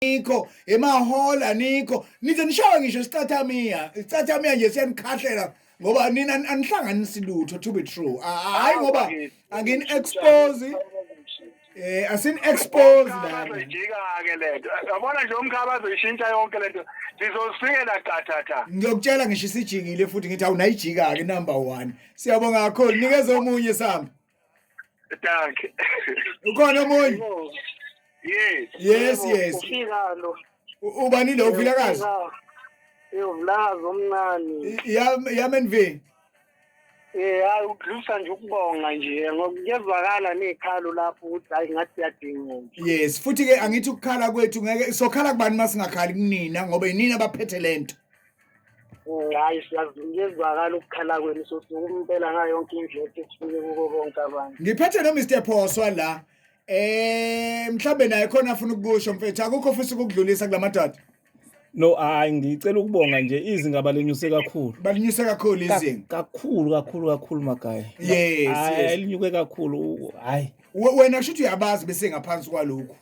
anikho emahola anikho nize nishawe ngisho isicathamia isicathamia nje siyanikhahlela ngoba nina anihlanganisi lutho to be true Ah, hayi Ah, ngoba bakithi. angini expose eh asin expose la bazoyijika-ke le nto yabona nje umkhaba azoyishintsha yonke le nto ndizozifikela qathatha ngiyokutshela ngisho isijikile futhi ngithi awunayijika ke number 1 siyabonga kakhulu nikeza omunye sami Danke. Ukhona omunye? Yes. Yes, yes. Ufika lo. Ubani lo uvila kazi? Yovulazi omncane. Ya ya menvini. Eh hayi udlusa nje ukubonga nje ngoba kuyezwakala nekhalo lapho ukuthi hayi ngathi yadinga nje. Yes, futhi ke angithi ukukhala kwethu ngeke sokhala kubani masingakhali kunina ngoba yinina abaphethe lento. hayi siyazizwakala ukukhala kwenu sosuku impela ngayo yonke indlela ukuthi sifike kuko bonke abantu ngiphethe no Mr Phoswa la eh mhlambe naye khona afuna ukusho mfethu akukho futhi ukudlulisa kulamadoda No hayi ngicela ukubonga nje izinga balinyuse kakhulu. Balinyuse kakhulu izinga. Kakhulu kakhulu kakhulu magaya. Yes. Hayi linyuke kakhulu hayi. Wena kusho ukuthi uyabazi bese ngaphansi kwalokho.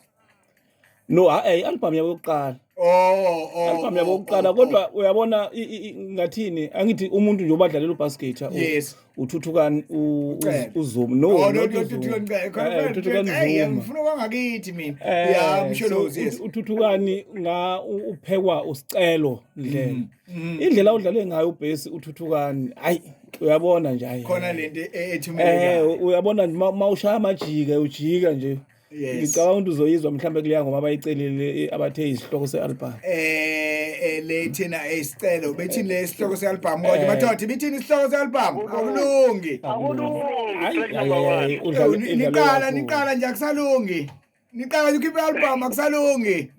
no hayi i-album yabo yokuqala Oh, oh, album yabo oh, yokuqala oh, kodwa oh. uyabona i- i- i- ngathini angithi umuntu nje obadlalela ubasketer u- Yes. uthuthukani u- u- Ucele. uzuma no Oh, no, not no, uzuma. Thuthuka Ncele. Khona Eh, phela uthuthukani Ncele, hey, zuma ngifuna kwangakithi mina. Eh, Yeah, Msholozi, so yes. ut- uthuthukani nga u- uphekwa usicelo ndlela Mm, indlela udlale ngayo ubhesi uthuthukani hayi uyabona nje hayi Khona lento e- ethumele. eh uyabona nje ma- ma ushaya amajika ujika nje Yes. Ngicabanga ukuthi uzoyizwa mhlawumbe kuleya ngoba abayicelile eh, abathe isihloko se-album. Eh eh lethina isicelo bethi le sihloko se-album kodwa Eh. bathothi bithini isihloko se-album akulungi. Akulungi. Ayi, Track ayi, number ayi, one. ayi, Ewu, udlale- ni- idlale Niqala kakhulu. niqala nje akusalungi. Niqala nje ukhiphe i-album akusalungi.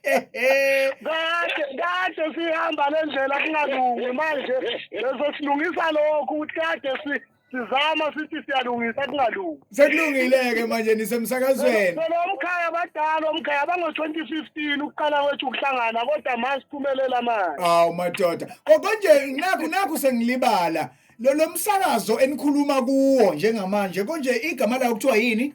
Kade kade sihamba lendlela kungalungi manje lezosilungisa lokho ukuthi kade si sizama sithi siyalungisa kungalungi sekulungile-ke manje nisemsakazweni phela umkhaya abadala omkhaya abango-twenty fifteen ukuqala kwethu ukuhlangana kodwa ma siphumelela manje hawu madoda kokonje nakhu nakhu sengilibala lo lo msakazo enikhuluma kuwo njengamanje konje igama lawo kuthiwa yini